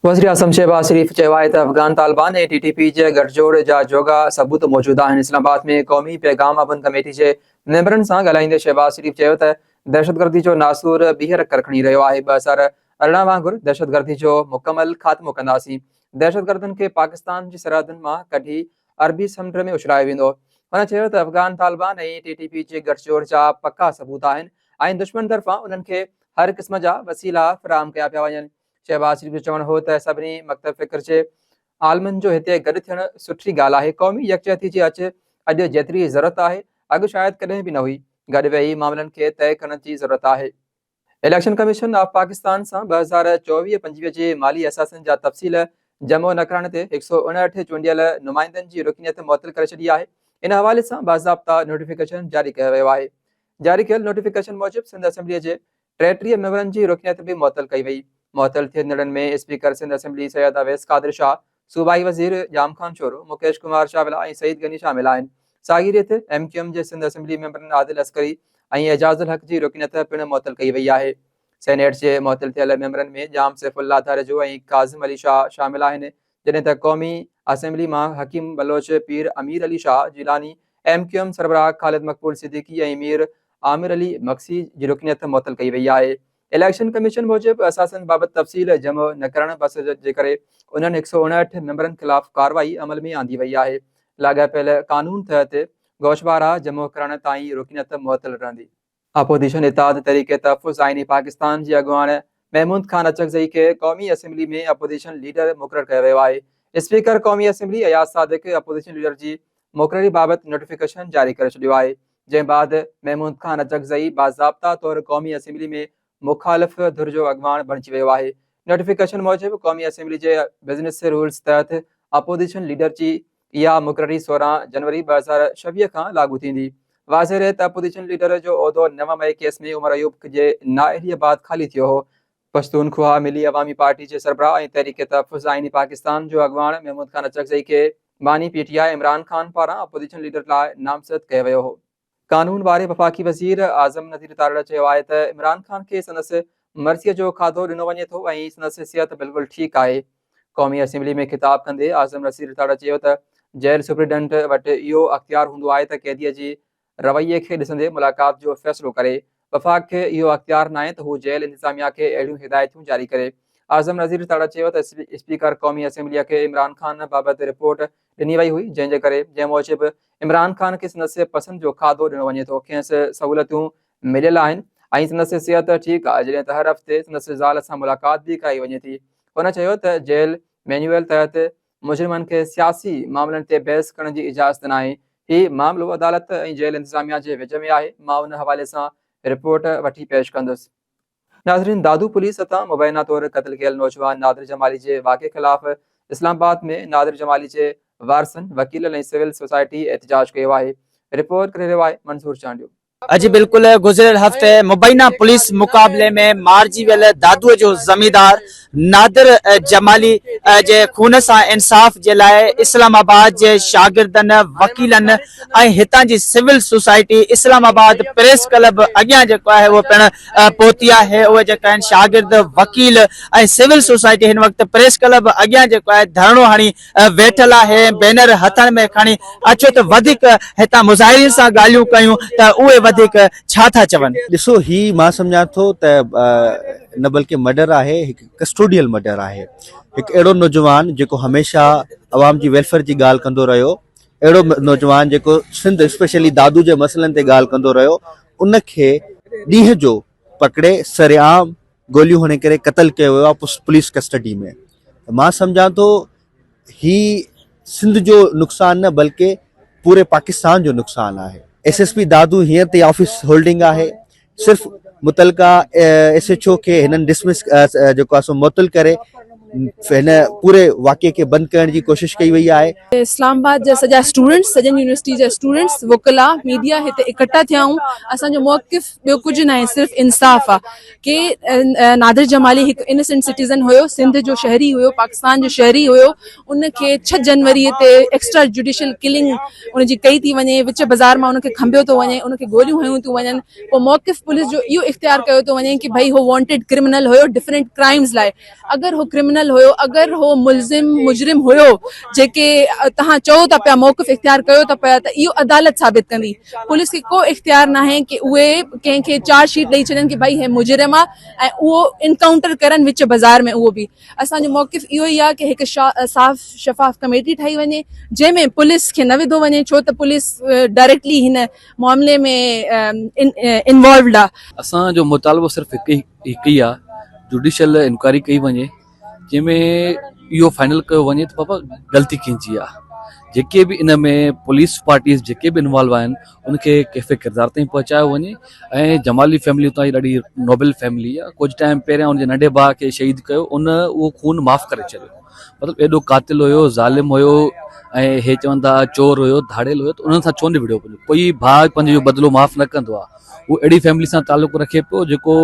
وزيراعظم شهباز شريف چيو آهي ته Afghan Taliban ۽ T T P جي گٺجوڙ جا جوڳا ثبوت موجود آهن، اسلام آباد ۾ قومي پيغام اڀن ڪميٽي جي ميمبرن سان ڳالهائيندي شهباز شريف چيو ته دهشتگردي جو ناسور ٻيهر ڪرکڙي رهيو آهي، ٻه هزار ارڙهن وانگر دهشتگردي جو مڪمل خاتمو ڪنداسين، دهشتگردن کي پاڪستان جي سرحدن مان ڪڍي عربي سمنڊ ۾ اڇلايو ويندو. هن چيو ته Afghan Taliban ۽ T T P جي گٺجوڙ جا پڪا ثبوت آهن ۽ دشمن طرفان انهن کي هر قسم جا وسيلا فراهم ڪيا پيا وڃن، شهباز شريف جو چوڻ هو ته سڀني مڪتب فڪر جي عالمن جو هتي گڏ ٿيڻ سٺي ڳالهه آهي قومي يڪجهتي جي اچ اڄ جيتري ضرورت آهي اڳ شايد ڪڏهن به نه هئي گڏ ويهي معاملن کي طئي ڪرڻ جي ضرورت آهي اليڪشن ڪميشن آف پاڪستان سان ٻه هزار چوويهه پنجويهه جي مالي اثاثن جا تفصيل جمع نه ڪرڻ تي هڪ سؤ اڻهٺ چونڊيل نمائندن جي رڪنيت معطل ڪري ڇڏي آهي ان حوالي سان باضابطا نوٽيفڪيشن جاري ڪيو ويو آهي جاري ڪيل نوٽيفڪيشن موجب سنڌ اسيمبلي جي ٽيٽيهه ميمبرن جي رڪنيت به معطل ڪئي وئي. معطل ٿيندڙن ۾ اسپيڪر سنڌ اسيمبلي سيد اويس قادر شاهه، صوبائي وزير ڄام خان شورو، مڪيش ڪمار چاولا ۽ سعيد غني شامل آهن. ساڳي ريت ايم ڪيو ايم جي سنڌ اسيمبلي ميمبرن عادل عسڪري ۽ اعجاز الحق جي رڪنيت پڻ معطل ڪئي وئي آهي. سينيٽ جي معطل ٿيل ميمبرن ۾ ڄام سيف الله ڌاريجو ۽ ڪاظم علي شاهه شامل آهن. جڏهن ته قومي اسيمبلي مان Hakeem Baloch, Pir Amir Ali Shah Jilani, M Q M سربراهه خالد مقبول صديقي ۽ مير عامر علي مگسي جي رڪنيت معطل ڪئي وئي آهي. اليڪشن ڪميشن موجب اثاثن بابت تفصيل جمع نه ڪرڻ بس جي ڪري انهن هڪ سؤ اڻهٺ ميمبرن خلاف ڪارروائي عمل ۾ آندي وئي آهي. لاڳاپيل قانون تحت گوشوارا جمع ڪرڻ تائين رڪنيت معطل رهندي. اپوزيشن اتحاد تحريڪ تحفظ آئيني پاڪستان جي اڳواڻ محمود خان اچڪزئي کي قومي اسيمبلي ۾ اپوزيشن ليڊر مقرر ڪيو ويو آهي، اسپيڪر قومي assembly Ayaz Sadiq opposition leader جي مقرري بابت نوٽيفڪيشن جاري ڪري ڇڏيو آهي، جنهن بعد محمود خان اچڪزئي باضابطا طور قومي اسيمبلي ۾ مخالف ڌر جو اڳواڻ بڻجي ويو آهي، نوٽيفڪيشن موجب قومي اسيمبلي جي بزنس رولز تحت اپوزيشن ليڊر جي اها مقرري سورهن جنوري ٻه هزار ڇويهه کان لاڳو ٿيندي. واضح رهي ته اپوزيشن ليڊر جو عهدو نو مئي ڪيس ۾ عمر ايوب جي نااهليء بعد خالي ٿيو هو. پشتونخواهه ملي عوامي پارٽي جي سربراهه ۽ تحريڪ تحفظ آئيني پاڪستان جو اڳواڻ محمود خان اچڪزئي کي باني P T I Imran Khan پاران اپوزيشن ليڊر لاء نامزد ڪيو ويو هو. قانون واري وفاقي وزير اعظم نذير تارڙ چيو آهي ته عمران خان کي سندس مرضيء جو کاڌو ڏنو وڃي ٿو ۽ سندس صحت بلڪل ٺيڪ آهي. قومي اسيمبلي ۾ خطاب ڪندي اعظم نذير تارڙ چيو ته جيل سپريڊنٽ وٽ اهو اختيار هوندو آهي ته قيديء جي رويي کي ڏسندي ملاقات جو فيصلو ڪري، وفاق کي اهو اختيار ناهي ته هو جيل انتظاميا کي اهڙيون هدايتون جاري ڪري. اعظم نذير تڙ چيو ته اسپيڪر قومي اسيمبليء کي عمران خان بابت رپورٽ ڏني وئي هئي جنهن جي ڪري جنهن موجب عمران خان کي سندس پسند جو کاڌو ڏنو وڃي ٿو کينس سهولتون مليل آهن ۽ سندس صحت ٺيڪ آهي جڏهن ته هر هفتي سندس زال سان ملاقات به ڪرائي وڃي ٿي هن چيو ته جيل مينيوئل تحت مجرمن کي سياسي معاملن تي بحث ڪرڻ جي اجازت ناهي، هي معاملو عدالت ۽ جيل انتظاميا جي وچ ۾ آهي، مان ان حوالي سان رپورٽ وٺي پيش ڪندس. ناظرين دادو پوليس هٿان مبينا طور قتل ڪيل نوجوان نادر جمالي جي واقعي خلاف اسلام آباد ۾ نادر جمالي جي وارثن، وڪيلن ۽ سول سوسائٽي احتجاج ڪيو آهي، رپورٽ ڪري رهيو آهي منظور چانڊيو. اڄ بلڪل گذريل هفتي مبينا پوليس مقابلي ۾ مارجي ويل دادوء جو زميندار نادر جمالي جي خون سان انصاف جي لاء اسلام آباد جي شاگردن، وڪيلن ۽ هتان جي civil society Islamabad press club اڳيان جيڪو آهي اهو پڻ پهتي آهي اهي جيڪا آهن شاگرد، وڪيل ۽ سول سوسائٽي هن وقت پريس ڪلب اڳيان جيڪو آهي ڌرڻو هڻي ويٺل آهي بينر هٿن ۾ کڻي اچو ته وڌيڪ هتان مظاهرين سان ڳالهيون ڪيون ته اهي وڌيڪ ڇا ٿا چون. ڏسو هي مان سمجهان ٿو ته نه بلڪه مڊر آهي هڪ ڪسٽوڊيل مڊر آهي هڪ اهڙو نوجوان جيڪو هميشه عوام جي ويلفيئر جي ڳالهه ڪندو رهيو اهڙو نوجوان جيڪو سنڌ اسپيشلي دادو جي مسئلن تي ڳالهه ڪندو رهيو ان کي ڏينهن جو پڪڙي سرعام گوليون هڻي ڪري قتل ڪيو ويو آهي پوليس ڪسٽڊي ۾ مان سمجهان ٿو هي سنڌ جو نقصان نه بلڪه پوري پاڪستان جو نقصان آهي ايس ايس پي دادو هيئر تي آفيس هولڊنگ آهي صرف متعلقه ايس ايچ او کي هنن ڊسمس جيڪو آهي سو معطل ڪري هن پوري واقعي کي بند ڪرڻ جي ڪوشش ڪئي وئي آهي اسلام آباد جا سڄا اسٽوڊنٽس سڄن يونيورسٽي جا اسٽوڊنٽس وڪلا ميڊيا هتي اڪٺا ٿيا آهيون اسان جو موقف ٻيو ڪجهه ناهي صرف انصاف آ ڪي نادر جمالي هڪ انسنٽ سٽيزن هيو سنڌ جو شهري هيو پاڪستان جو شهري هيو ان کي ڇهه جنوري تي ايڪسٽرا جوڊيشل ڪلنگ ان جي ڪئي ٿي وڃي وچ بازار مان ان کي کنڀيو ٿو وڃي ان کي گوليون هيون ٿيون وڃن پوء موقف پوليس جو اهو اختيار ڪيو ٿو وڃي ڪي ڀئي هو وانٽيڊ ڪرمنل هيو ڊفرنٽ ڪرائمز لاء اگر هو ڪرمنل هيو اگر هو ملزم مجرم هيو جيڪي توهان چئو ٿا پيا موقف اختيار ڪيو ٿا پيا ته اهو عدالت ثابت ڪندي پوليس کي ڪو اختيار ناهي ڪي اهي ڪنهن کي چارج شيٽ ڏئي ڇڏين ڪي ڀائي هي مجرم آ ۽ اهو انڪائونٽر ڪرن وچ بزار ۾ اهو به اسان جو موقف اهو ئي آ ڪي هڪ صاف شفاف ڪميٽي ٺاهي وڃي جنهن ۾ پوليس کي نه وڌو وڃي ڇو ته پوليس ڊائريڪٽلي هن معاملي ۾ انوالوڊ آ. اسان جو مطالبو صرف هڪ ئي آ جوڊيشل انڪوائري ڪئي وڃي جنهن ۾ اهو فائنل ڪيو وڃي ته بابا غلطي ڪنهن جي آ جيڪي به ان ۾ پوليس پارٽيز جيڪي به انوالو آهن ان کي ڪيفي ڪردار تائين پهچايو وڃي ۽ جمالي فيملي اتان جي ڏاڍي نوبل فيملي آ ڪجهه ٽائيم پهريان ان جي ننڍي ڀاء کي شهيد ڪيو ان اهو خون معاف ڪري ڇڏيو. مطلب ايڏو قاتل هيو ظالم هيو ۽ هي چون ٿا چور هيو ڌاڙيل هيو ته انهن سان ڇو نبڙيو پنهنجو ڪوئي ڀاء پنهنجو جو بدلو معاف نه ڪندو آ هو اهڙي فيملي سان تعلق رکي پيو جيڪو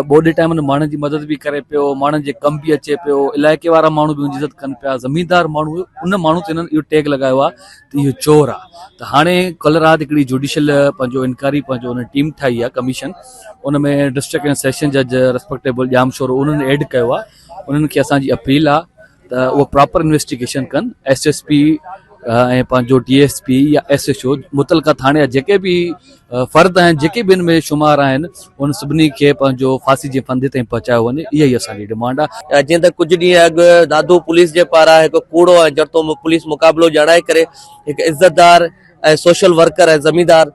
ٻوڏي ٽائم ۾ ماڻهن جي مدد به ڪري پيو ماڻهن جي ڪم به اچي پيو علائقي وارا ماڻهو به انهن جي عزت ڪن پيا زميندار ماڻهو هيو ان ماڻهو تي هنن اهو ٽيگ لڳايو آ ته اهو چور آ ته هاڻي ڪلهه رات هڪڙي جوڊيشل پنهنجو انڪوائري پنهنجو ان ٽيم ٺاهي آ ڪميشن ان ۾ ڊسٽرڪٽ ۽ سيشن جج ريسپيڪٽيبل ڄام شورو انهن ايڊ ڪيو آ انهن کي اسان جي اپيل آ ته اهو پراپر انويسٽيگيشن ڪن ايس ايس پي ۽ پنهنجو ڊي ايس پي يا ايس ايچ او متعلقه ٿاڻي جا جيڪي به فرد آهن جيڪي به ان ۾ شمار آهن ان سڀني کي پنهنجو ڦاسي جي ڦندي تائين پهچايو وڃي اها ئي اسان جي ڊمانڊ آهي جيئن ته ڪجهه ڏينهن اڳ دادو پوليس جي پاران هڪ ڪوڙو ۽ جڙتو پوليس مقابلو ڄاڻائي ڪري هڪ عزتدار ۽ سوشل ورڪر ۽ زميندار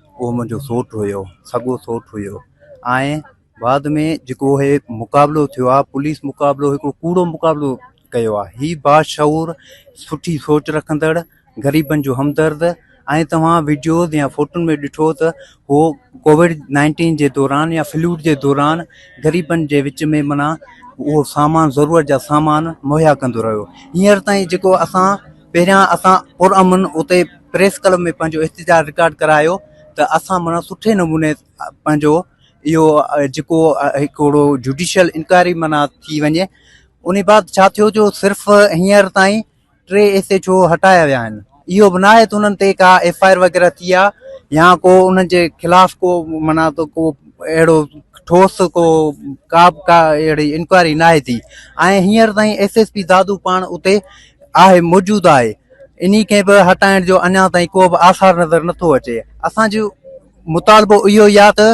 اهو منهنجو سوٽ هيو سڳو سوٽ هيو ۽ بعد ۾ جيڪو هي مقابلو ٿيو آهي پوليس مقابلو هڪڙو ڪوڙو مقابلو ڪيو آهي هي باشعور سٺي سوچ رکندڙ غريبن جو همدرد ۽ توهان وڊيوز يا فوٽن ۾ ڏٺو ته هو ڪوويڊ نائنٽين جي دوران يا فلوڊ جي دوران غريبن جي وچ ۾ منا اهو سامان ضرورت جا سامان مهيا ڪندو رهيو هينئر تائين جيڪو اسان پهريان اسان پرامن اتي پريس ڪلب ۾ پنهنجو احتجاج رڪارڊ ڪرايو ته اسان معنيٰ سٺي نموني پنهنجو اهو جيڪو هڪڙو جوڊيشل انڪوائري معنيٰ ٿي وڃي ان بعد ڇا ٿيو جو صرف هينئر تائين ٽي ايس ايچ او هٽايا ويا آهن اهو به ناهي ته انهن تي ڪا ايف آء آر وغيره ٿي آ يا ڪو انهن جي خلاف ڪو معنيٰ ته ڪو اهڙو ٺوس ڪو ڪا به ڪا اهڙي انڪوائري ناهي ٿي ۽ هينئر تائين ايس ايس پي دادو پاڻ اتي آهي موجود آهي انهي کي به هٽائڻ جو اڃا تائين ڪو به آثار نظر نٿو اچي اسان جو مطالبو اهو ئي آهي ته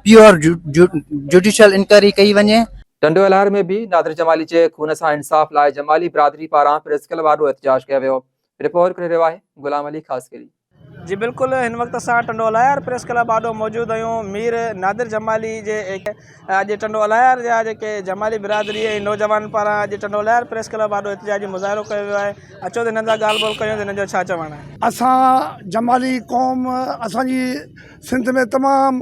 پيور جوڊيشل انڪوائري ڪئي وڃي ٽنڊوالهر ۾ به نادر جمالي جي خون سان انصاف لاء جمالي برادري پاران پريس ڪلب آڏو احتجاج ڪيو ويو رپورٽ ڪري رهيو آهي غلام علي خاصخيلي. جي بلڪل هن وقت اسان ٽنڊو الايار پريس ڪلب آڏو موجود آهيون مير نادر جمالي جي اڄ ٽنڊو الايار جا جيڪي جمالي برادري ۽ نوجوانن پاران اڄ ٽنڊو الايار پريس ڪلب آڏو احتجاجي مظاهرو ڪيو ويو آهي اچو ته هنن سان ڳالهه ٻولهه ڪيون ته هنن جو ڇا چوڻ آهي اسان جمالي قوم اسان جي سنڌ ۾ تمام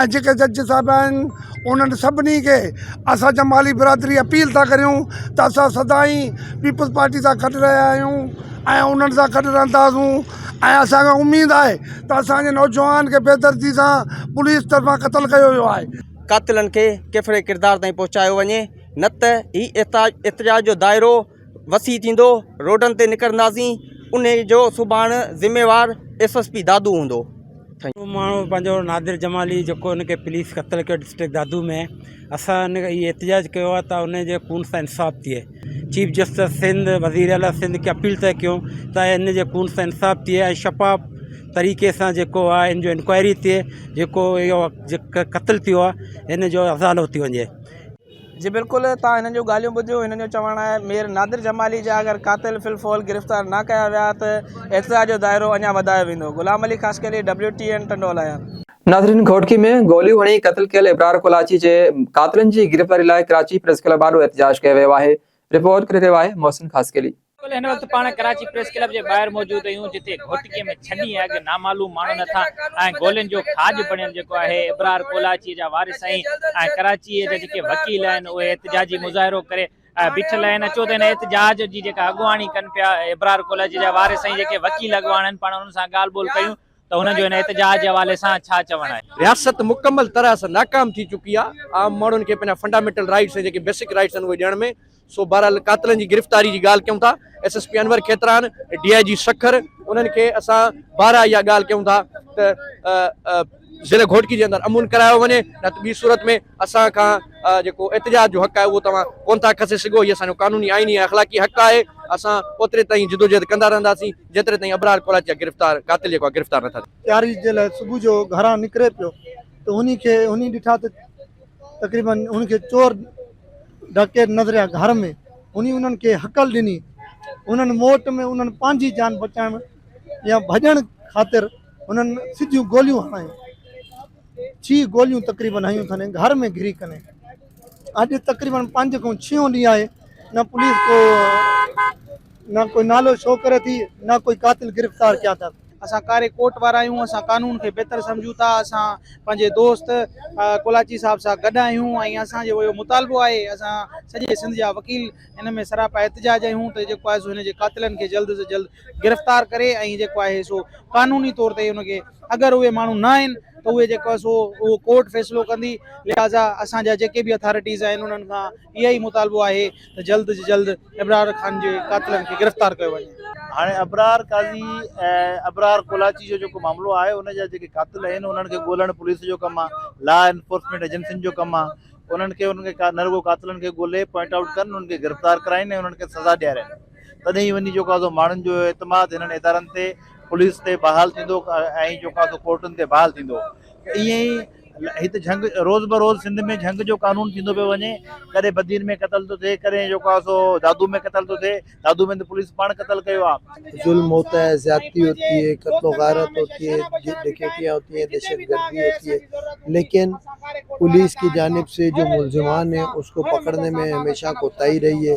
۽ جيڪي جج صاحب آهن انهن سڀني کي اسان جمالي برادري اپيل ٿا ڪريون ته اسان سدائين پيپلز پارٽي سان گڏ رهيا آهيون ۽ انهن سان گڏ رهنداسون ۽ اسان کي اميد آهي ته اسان جي نوجوان کي بي دردي سان پوليس طرفان قتل ڪيو ويو آهي قاتلن کي ڪيفڙي ڪردار تائين پهچايو وڃي نه ته هي احتجاج جو دائرو وسيع ٿيندو، روڊن تي نڪرنداسين، انهي جو سڀاڻ ذميوار ايس ايس پي دادو هوندو. اهو ماڻهو پنهنجو نادر جمالي جيڪو ان کي پوليس قتل ڪيو ڊسٽرڪٽ دادو ۾، اسان ان اهي احتجاج ڪيو آهي ته انهي جي خون سان انصاف ٿئي، چيف جسٽس سنڌ، وزير اعليٰ سنڌ کي اپيل ٿا ڪيون ته انهي جي خون سان انصاف ٿئي ۽ شفاف طريقي سان جيڪو آهي ان جو انڪوائري ٿئي، جيڪو اهو قتل ٿيو آهي ان جو ازالو ٿي وڃي. جي بلڪل توهان هنن جون ڳالهيون ٻڌيون هنن جو چوڻ آهي مير نادر جمالي جا اگر قاتل في الفعل گرفتار نه ڪيا ويا ته احتجاج جو دائرو اڃا وڌايو ويندو Ghulam Ali Khaskheli W T N Tando Allahyar. ناظرين گهوٽڪي ۾ گوليون هڻي قتل ڪيل ابرار ڪولاچي جي قاتلن جي گرفتاري لاء ڪراچي پريس ڪلب آڏو احتجاج ڪيو ويو آهي رپورٽ ڪري رهيو آهي محسن خاصخيلي. بلڪل هن وقت پاڻ ڪراچي پريس ڪلب جي ٻاهر موجود اهيون جتي گهوٽڪي ۾ ڇهه ڏينهن اڳ نامعلوم ماڻهن هٿان ۽ گولين جو کاڄ بڻيل جيڪو آهي ابرار ڪولاچي جا وارث ۽ ڪراچي جا جيڪي وڪيل آهن اهي احتجاجي مظاهرو ڪري بيٺل آهن اچو ته هن احتجاج جي جيڪا اڳواڻي ڪن پيا ابرار ڪولاچي جا وارث ۽ جيڪي وڪيل اڳواڻ آهن پاڻ انهن سان ڳالهه ٻولهه ڪيون. ته هن جو هن احتجاج جي حوالي سان ڇا چوڻ آهي؟ رياست مڪمل طرح سان ناڪام ٿي چڪي آ عام ماڻهن کي پنهنجا فنڊامينٽل رائيٽس ۽ جيڪي بيسڪ رائيٽس آهن اهي ڏيڻ ۾ سو بهرحال قاتلن جي گرفتاري جي ڳالهه ڪيون ٿا S S P Anwar Khetran D I G Sukkur انهن کي اسان بارها اها ڳالهه ڪيون ٿا ته ضلع گهوٽڪي جي اندر امن ڪرايو وڃي نه ته ٻي صورت ۾ اسان کان جيڪو احتجاج جو حق آهي اهو توهان ڪون ٿا کسي سگهو هي اسان جو قانوني آئيني ۽ اخلاقي حق آهي اسان اوتري تائين جدوجهد ڪندا رهنداسين جيتري تائين ابرار ڪولاچي جا گرفتار قاتل جيڪو آهي گرفتار نٿا ٿين. تياري جي لاء صبح جو گهران نڪري پيو ته هن کي هن ڏٺا ته تقريباً هن کي چور ڊاڪيت نظر آيا گهر ۾ هن انهن کي هڪل ڏني انهن موٽ ۾ انهن پنهنجي جان بچائڻ يا ڀڄڻ خاطر انهن سڌيون گوليون هنايون ڇهه گوليون تقريباً هنيون اٿن ۽ گهر ۾ گهري ڪني اڄ تقريباً پنج کان ڇهون ڏينهن آهي نه پوليس ڪو نه ڪوئي نالو شو ڪري ٿي نه ڪوئي قاتل گرفتار ڪيا اٿن. اسان ڪاري ڪوٽ وارا آهيون اسان قانون کي بهتر سمجهون ٿا اسان پنهنجي دوست ڪولاچي صاحب سان گڏ آهيون ۽ اسان جو اهو مطالبو آهي اسان سڄي سنڌ جا وڪيل ان ۾ سراپا احتجاج آهيون ته جيڪو آهي سو هن جي قاتلن کي جلد سان جلد گرفتار ڪري ۽ جيڪو آهي سو قانوني طور تي ان کي اگر اهي ماڻهو نه آهن ته اهي جيڪو آهي سو اهو ڪورٽ فيصلو ڪندي لهٰذا اسان جا جيڪي به اٿارٽيز آهن انهن کان اهي ئي مطالبو آهي ته جلد جي جلد ابرار خان جي قاتلن کي گرفتار ڪيو وڃي. هاڻي ابرار قاضي ۽ ابرار ڪولاچي جو جيڪو معاملو آهي ان جا جيڪي قاتل آهن انهن کي ڳولڻ پوليس جو ڪم آهي لا انفورسمينٽ ايجنسين جو ڪم آهي انهن کي انهن کي نه رڳو قاتلن کي ڳولي پوائنٽ آئوٽ ڪن انهن کي گرفتار ڪرائين ۽ انهن کي سزا ڏيارين تڏهن ئي وڃي جيڪو آهي ماڻهن جو اعتماد هنن ادارن تي پوليس تي بحال ٿيندو ۽ جيڪو آهي ڪورٽن تي بحال ٿيندو ته ائين ئي هت جهنگ روز بروز سنڌ ۾ جهنگ جو قانون ٿيندو پيو وڃي ڪڏهن بدين ۾ قتل ٿو ٿئي ڪڏهن جو ڪا سو دادو ۾ قتل ٿو ٿئي دادو ۾ ته پوليس پاڻ قتل ڪيو آهي ظلم هوتا هي زيادتي هوتي هي قتل و غارت هوتي هي ڊڪيٽيا هوتي هي دهشت گردي هوتي هي ليڪن پوليس ڪي جانب سي جو ملزمان هي اس ڪو پڪڙني مي هميشه ڪوتاهي رهي هي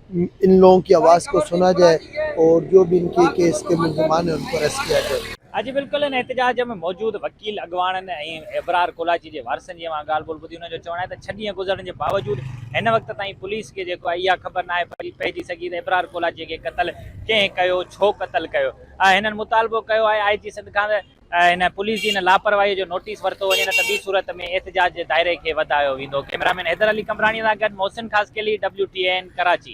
ان لوگون ڪي آواز ڪو سنا جائي اور جو بي ان ڪي ڪيس ڪي ملزمان هين انڪو اريسٽ ڪيا جائي. اڄ بالڪل ان احتجاج ۾ موجود وڪيل اڳواڻن ۽ ابرار ڪولاچي جي وارثن جي اوهان ڳالهه ٻولهه ٻڌي انهن جو چوڻ آهي ته ڇهه ڏينهن گذرڻ جي باوجود هن وقت تائين پوليس کي جيڪو آهي اها خبر ناهي پئجي سگهي ته ابرار ڪولاچي کي قتل ڪنهن ڪيو ڇو قتل ڪيو آهي هنن مطالبو ڪيو آهي آء جي سنڌ کان ته هن پوليس جي ان لاپرواهي جو نوٽيس ورتو وڃي نه ته ٻي صورت ۾ احتجاج جي دائري کي وڌايو ويندو. ڪيمرامين حيدر علي قمبراڻي سان گڏ محسن خاصخيلي، WTAN، ڪراچي.